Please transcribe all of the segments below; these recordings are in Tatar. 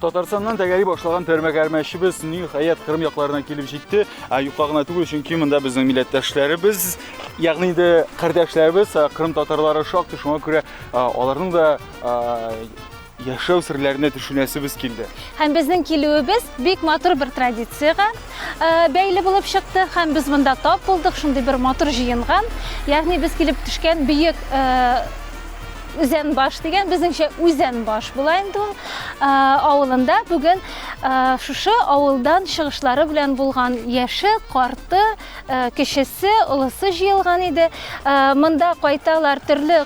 Татарстаннан тәгәри башлаган тәрмәгәрмәчебез ниһаять Кырым якларына килеп җитте. Ә юкка гына түгел, чөнки монда безнең милләттәшләребез, ягъни инде кардәшләребез, Кырым татарлары шактый шуңа күрә аларның да яшәү серләренә төшенәсебез килде. Һәм безнең килүебез бик матур бер традициягә э, бәйле булып чыкты һәм без монда тап булдык шундый бер матур җыенган. Ягъни без килеп төшкән бөек э, үзән баш дигән безнеңчә үзән баш була инде ул э, авылында бүген шушы авылдан чыгышлары белән булган яше, карты, Кечесе, олысы җыелган иде. Монда кайталар төрле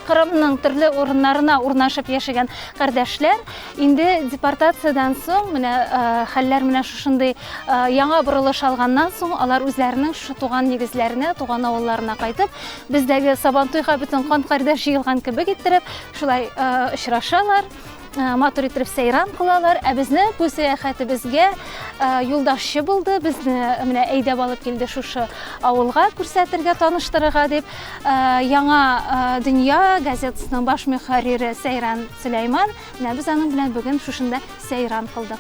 Кырымның төрле урыннарына урнашып яшәгән кардәшләр. Инде депортациядән соң менә хәлләр менә шушындый яңа борылыш алганнан соң алар үзләренең шушы туган нигезләренә, туган авылларына кайтып, бездәге Сабантуйга бөтен кан кардәш җыелган кебек иттереп, шулай очрашалар. матур иттереп сәйран кылалар ә безне бу сәяхәтебезгә юлдашчы булды безне менә әйдәп алып килде шушы авылга күрсәтергә таныштырырга дип яңа дөнья газетасының баш мөхәррире сәйран сөләйман менә без аның белән бүген шушында сәйран кылдык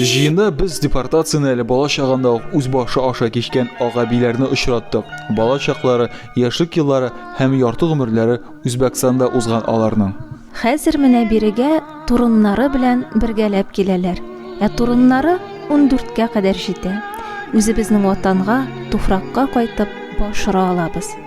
Җыенда без депортацияне әле бала чагында ук үз башы аша кичкән агабиләрне очраттык. Бала чаклары, яшьлек еллары һәм ярты гомерләре Үзбәкстанда узган аларның. Хәзер менә бирегә турыннары белән бергәләп киләләр. Ә турыннары 14кә кадәр җитә. Үзебезнең ватанга, туфракка кайтып, баш ора алабыз.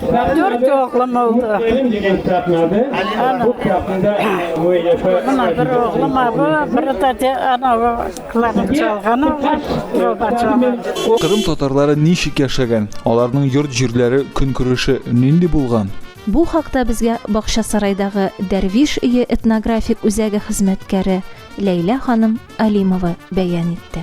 Дөрт оглым булды. Бәйрәм дигән китапны алды. Бу китапны Мына бер оглым абы, бер тәте анавы кларнет чалган оглы, труба чалган. Кырым татарлары ничек яшәгән? Аларның йорт-җирләре көнкүреше нинди булган? Бу хакта безгә Бакчасарайдагы Дәрвиш өе этнографик үзәге хезмәткәре Ләйлә ханым Алимова бәян итте.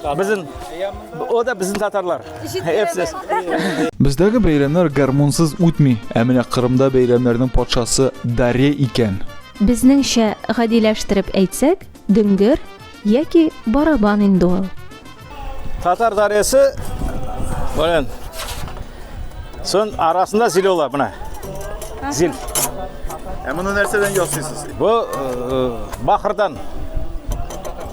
Безнең о да безнең татарлар. Эпсез. Бездәге бәйрәмнәр гармунсыз үтми, ә менә Кырымда бәйрәмнәрнең патшасы Даре икән. Безнеңчә гадиләштереп әйтсәк, дөңгер яки барабан инде ул. Татар даресе белән сон арасында зил була менә. Зил. Ә моны нәрсәдән ясыйсыз? Бу э, бахырдан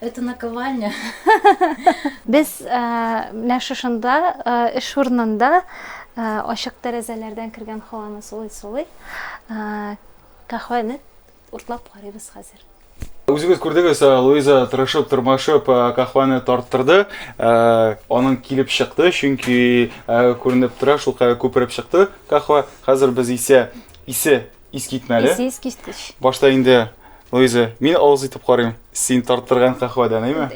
Это наковальня. Без э, менә шушында э, эш урынында э, ачык тәрәзәләрдән кергән һаваны сулый-сулый каһвәне уртлап карыйбыз хәзер. Үзегез күрдегез, э, Луиза тырышып, тырмашып э, кахваны тарттырды. Э, аның килеп чыкты, чөнки күренеп тора, шулкая күпереп чыкты кахва. Хәзер без исә исе Искитмәле. Исе искиткеч. Башта инде Луиза, мин авыз итеп карыйм. Син тарттырган кахвадан, әйме?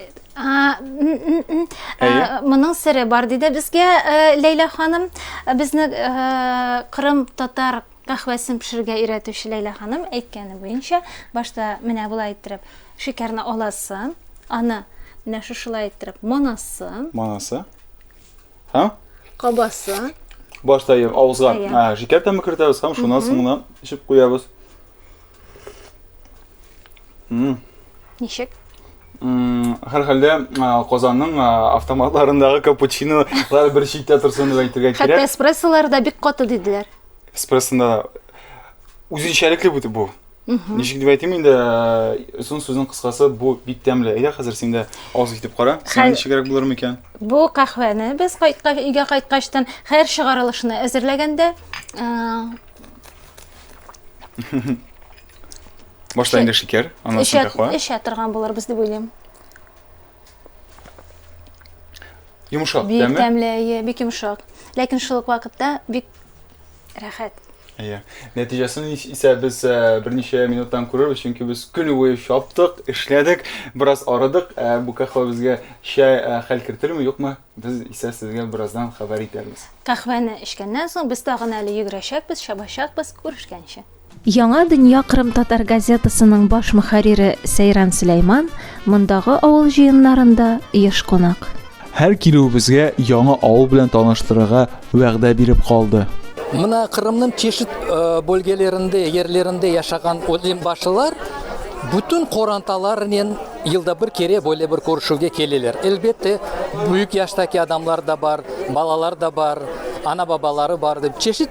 Моның сире бар диде безгә э, Ләйлә ханым. Э, безне э, Кырым татар кахвасын пешерергә өйрәтүче Ләйлә ханым әйткәне буенча, башта менә болай иттереп шикәрне аласы, аны менә шушылай иттереп монасы. Монасы. Һәм? Кабасы. Башта ем авызга ә, шикәр тәме кертәбез һәм шуннан соң гына эчеп куябыз. Ничек? Һәр хәлдә Казанның автоматларындагы капучинолар бер читтә торсын дип әйтергә кирәк. Хәтта эспрессолар да бик каты диделәр. Эспрессонда да үзенчәлекле бу. Ничек дип әйтим инде, озын сүзнең кыскасы, бу бик тәмле. Әйдә хәзер син дә авыз итеп кара. Сиңа ничегрәк булыр микән? Бу каһвәне без кайткач, өйгә кайткачтан һәр чыгарылышны әзерләгәндә Башта инде шикәр, аннан соң каһвә. Эчә торган булырбыз дип уйлыйм. Йомшак, тәме? Бик тәмле, бик йомшак. Ләкин шул ук вакытта бик Рәхәт. Әйе. Нәтиҗәсен исә без э, берничә минуттан күрербез, чөнки без көн буе чаптык, эшләдек, бераз арыдык. Э, бу каһвә безгә чәй э, хәл кертер юкмы? Без исә сезгә бераздан хәбәр итәрбез. Каһвәне эчкәннән соң без тагын әле йөгерәчәкбез, чабачакбыз, күрешкәнче. Яңа дөнья кырымтатар газетасының баш мөхәррире Сәйран Сөләйман мондагы авыл җыеннарында еш кунак. Һәр килүебезгә яңа авыл белән таныштырырга вәгъдә биреп калды. Менә Кырымның чишит бөлгелерендә, ерлерендә яшәгән олимбашылар бүтән коранталарыннан елда бер кере боле бер күрешүгә киләләр. Әлбәттә, бөек яшьтәге адамнар да бар, балалар да бар, ана-бабалары бар дип чишит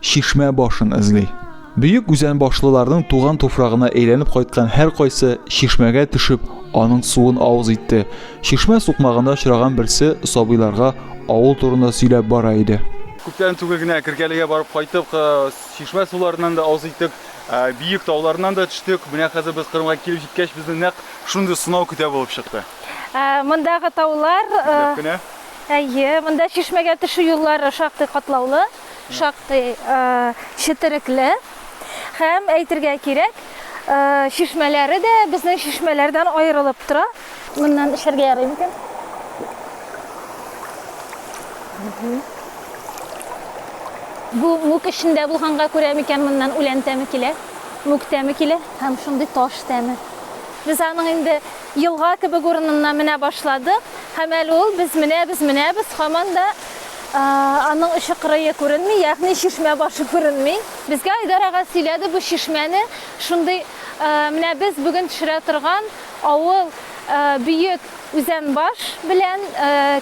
чишмә башын эзли. Бөек үзән башлыларның туган туфрагына әйләнеп кайткан һәр кайсы чишмәгә төшеп, аның суын авыз итте. Чишмә сукмагында очраган берсе сабыйларга авыл турында сөйләп бара иде. Күптән түгел генә Кергәлегә барып кайттык, чишмә суларыннан да авыз иттек, биек тауларыннан да төштек. Менә хәзер без Кырымга килеп җиткәч, безне нәкъ шундый сынау көтә булып чыкты. Мондагы таулар, әйе, монда чишмәгә төшү юллары шактый катлаулы. шактый четерекле һәм әйтергә кирәк, чишмәләре дә безнең чишмәләрдән аерылып тора. Моннан эчәргә ярый микән? Бу мүк эчендә булганга күрә микән моннан үлән тәме килә, мүк тәме килә һәм шундый таш тәме. Без аның инде елга кебек урынына менә башладык һәм әле ул без менәбез, менәбез, һаман да аның очы кырые күренми, ягъни чишмә башы күренми. Безгә Айдар ага сөйләде бу чишмәне, шундый менә без бүген төшерә торган авыл Бөек Үзәнбаш белән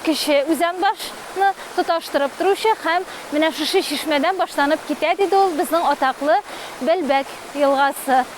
Кече Үзәнбашны тоташтырып торучы һәм менә шушы чишмәдән башланып китә, диде ул, безнең атаклы Бәлбәк елгасы.